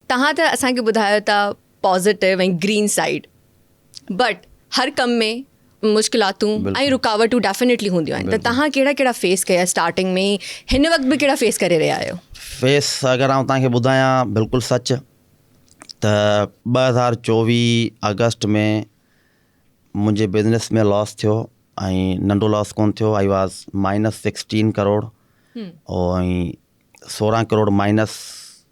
توهان ته اسان کي ٻڌايو ته پازيٽو ۽ گرين سائيڊ بٽ هر ڪم ۾ مشڪلاتون ۽ رڪاوٽون ڊيفينيٽلي هونديون آهن ته توهان ڪهڙا ڪهڙا فيس ڪيا اسٽارٽنگ ۾ هن وقت به ڪهڙا فيس ڪري رهيا آهيو؟ فيس اگر آئون توهان کي ٻڌايان بلڪل سچ ته ٻه هزار چوويهه آگسٽ ۾ منهنجي بزنس ۾ لاس ٿيو ۽ ننڍو لاس ڪون ٿيو I was minus sixteen crore ۽ سورهن ڪروڙ مائنس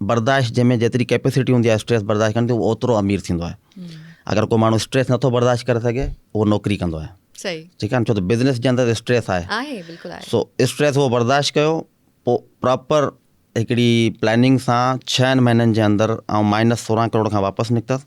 برداشت جنهن ۾ جيتري ڪيپيسٽي هوندي آهي اسٽريس برداشت ڪرڻ جي اهو اوترو امير ٿيندو آهي اگر ڪو ماڻهو اسٽريس نٿو برداشت ڪري سگهي اهو نوڪري ڪندو آهي صحيح ٺيڪ آهي ڇو ته بزنس جي اندر اسٽريس آهي آهي بلڪل آهي سو اسٽريس اهو برداشت ڪيو پوء پراپر هڪڙي پلاننگ سان ڇهن مهينن جي اندر آئون مائنس سورهن ڪروڙ کان واپس نڪتس